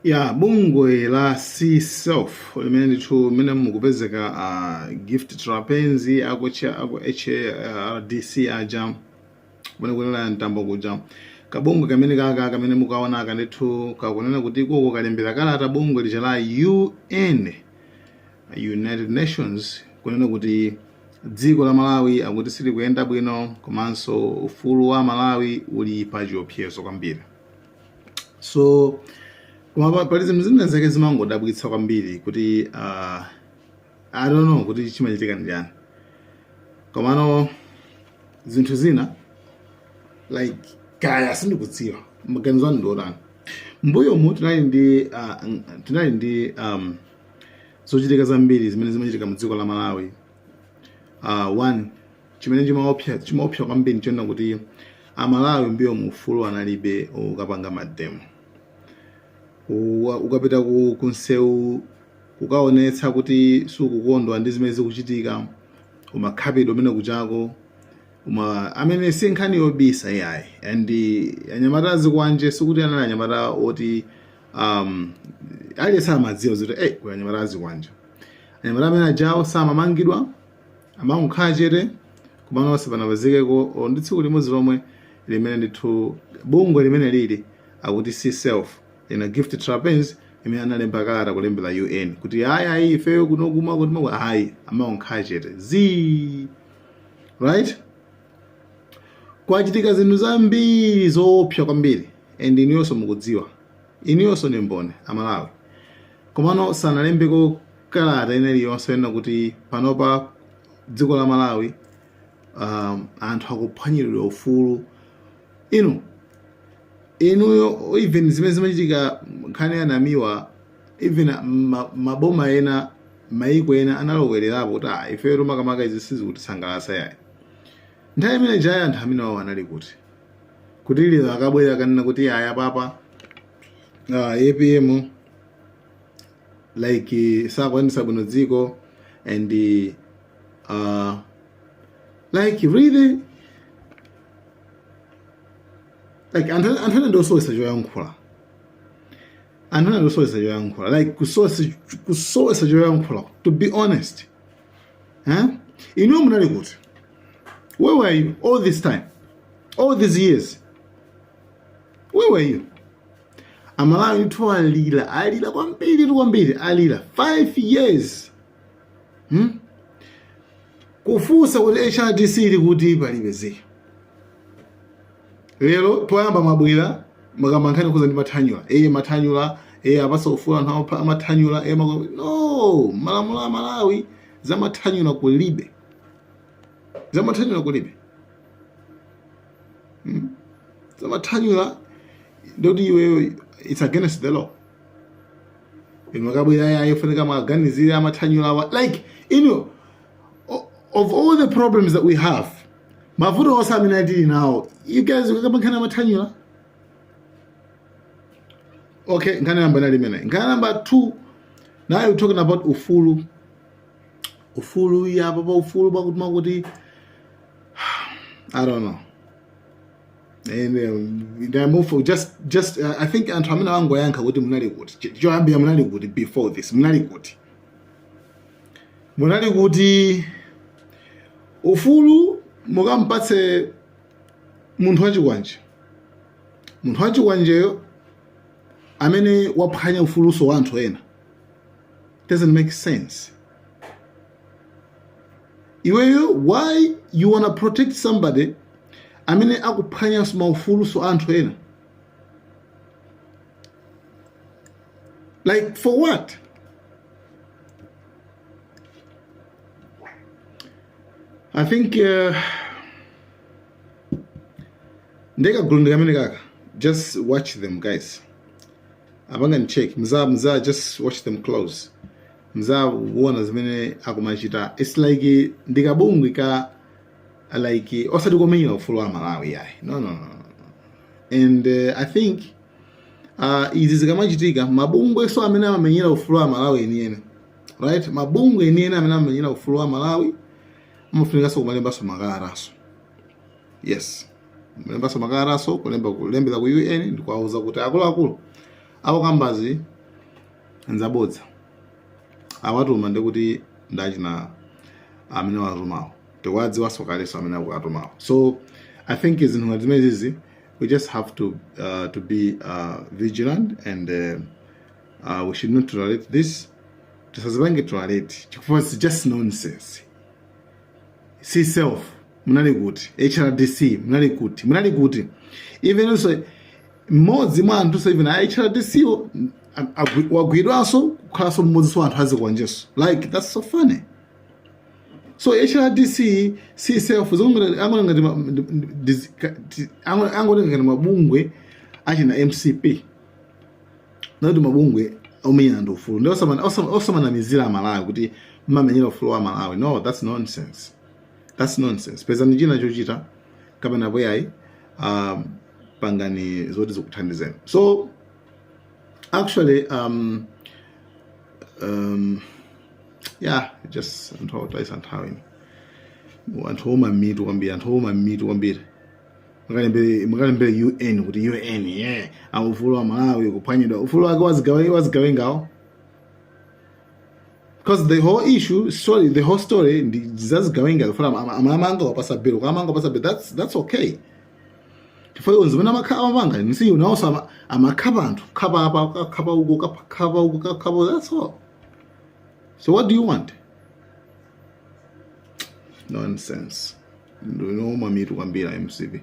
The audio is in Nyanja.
ya bungwe la cself limene ndithu mene mukupezeka a gift trapence kuja aku hrdc aja kumene kunena mtambo kuja kabungwe kamene kaka kamene mukaona aka ndithu kakunena kuti ikoko kalembera kalata bungwe lija la un united nations kunena kuti dziko la malawi akuti silikuyenda bwino komanso ufulu wa amalawi uli pa chiopsezo kwambiri so koma pali zinthu zina zake zimangodabwitsa kwambiri kuti uh, I don't know kuti chimachitika ndi chani komano zinthu zina like kaya sindikudziwa maganizo anu ndiotani mbuyomu tinali ndi uh, tinali ndi um, zochitika zambiri zimene zimachitika mu dziko la malawi uh, one chimene chimaopsa chimaopsa kwambiri chonena kuti amalawi mbuyomu ufulu analibe ukapanga mademo Uwa- ukapita ku kumsewu kukaonetsa kuti sukukondwa ndi zimene zikuchitika umakhapidwa umenekujako umamenyedwa si nkhani yobisa yayi and eh, anyamata azikwanje sikuti anali anyamata oti um, aliyense amadziwa zoti hey, kuli anyamata azikwanje anyamata amene ajawo samamangidwa amangokhala chete komano osapezekako olo ndi tsiku limodzi lomwe limene ndithu bungwe limene lili akuti cself ina gift trapence imene analemba kalata kulembera un kuti ayi ayi ifeyo kuno kumakuti maku ayi amangokhala chete zii right kwachitika zinthu zambiri zoopsa kwambiri and inuyonso mukudziwa Inuyonso ndi mboni, Amalawi. Komano sanalembeko kalata ina iliyonse yonena kuti panopa dziko la Malawi um, anthu akuphwanyiridwa ufulu. Inu inuyo even zimene zimachitika nkhani ya Namiwa even ma- maboma ena maiko ena analowererapo kuti ah, ifeyo makamaka izi sizikutisangalatsa yayi. Nthawi imene ijayo anthu amenewawo anali kuti? kuti lero akabwera akanena kuti ayi apapa uh, apm like sakuyendetsa bwino dziko and uh, like really like anthu anthu ena ndiosowesa choyankhula anthu ena ndiosowesa choyankhula like kusowesa choyankhula to be honest huh? inuyo munali kuti where were you all this time all these years where were you amalawi ndithu alira alira kwambiri kwambiri alira 5 years hmm? kufunsa kuti hrdc ili kuti palibe zii lero poyamba mwabwera mukamba nkhani yokhudza ndi mathanyula eye mathanyula eye apatse ufulu anthu amapha- amathanyula eye mako no malamulo a malawi zamathanyula kulibe zamathanyula kulibe Mm. zamathanyula ndikuti iweyo it's against the law inu mukabwera ayi ayi ifunika maganizire amathanyula awa like inu of all the problems that we have mavuto onse amene tili nawo you guys mukakamba nkhani yamathanyula okay nkhani namba inali imeneyi nkhani namba two now you're talking about ufulu ufulu apa pa ufulu pakuti munali kuti i don't know and um, they move for just just uh, i think anthu amene angowayankha kuti munali kuti choyambira munali kuti before this munali kuti munali kuti ufulu mukampatse munthu wachikwanje munthu wachikwanjeyo amene waphwanya ufulunso wa anthu ena doesn't make sense iweyo why you wanna protect somebody amene akuphwanya maufulunso a anthu ena Like for what? I think uh, ndeka gulu ndikamene kaka just watch them guys apanga ni check mza mza just watch them close mza kuona zimene akumachita it's like ndikabungwe ka like osati komenyera ufulu wa malawi yayi no no no and uh, i think uh, izi zikamachitika mabungwenso amene amamenyera ufulu wa malawi enieni right mabungwe enieni amene amamenyera ufulu wa malawi amafunikanso kumalembanso makalatanso yes kulembanso makalatanso kulemba kulembera ku un ndikuwauza kuti akuluakulu akukambazo nzabodza awatuma ndikuti ndi achina amene awatumawo tikuwadziwanso kalenso amene akuwatumawo so i think zinthu ngati zimenezi we just have to uh, to be uh, vigilant and uh, uh, we should not tolerate this tisazipange tolerate chifukwa it's just nonsense csef munali kuti hrdc munali kuti munali kuti even also mmodzi mwa anthu even a hrdc wagwidwanso kukhalanso mmodzinso wa anthu azikwanjenso like that's so funny so hrdc csef zomwe angona ngati ma- ndi- ndi- ndi- ka- ti- ango- angotenga ngati mabungwe achina mcp osati mabungwe omenyera ufulu ndi osamana- osama- osamanamizira amalawi kuti mmamenyera ufulu wa amalawi no that's nonsense that's nonsense pezani china chochita kapena apo ayi um, pangani zoti zikuthandizeni so Actually, um, um, yeah, just anthu otayitsa nthawi anthu ouma mitu kwambiri anthu ouma mitu kwambiri Mukalembere- mukalembere un kuti un yeah. a ufulu wa malawi kuphwanyidwa ufulu wake wazigawe- wazigawengawo because the whole issue sorry the whole story ndi zazigawenga zifukwa amamanga wapasa bill kuamanga wapasa bill that's, that's okay chifukwa zimene amapanga mcp yo nawonso amakhapa anthu khapa apa kakhapa uko kakhapa uko kakhapa that's all so what do you want nonsense ndinu ouma mitu kwambiri mcp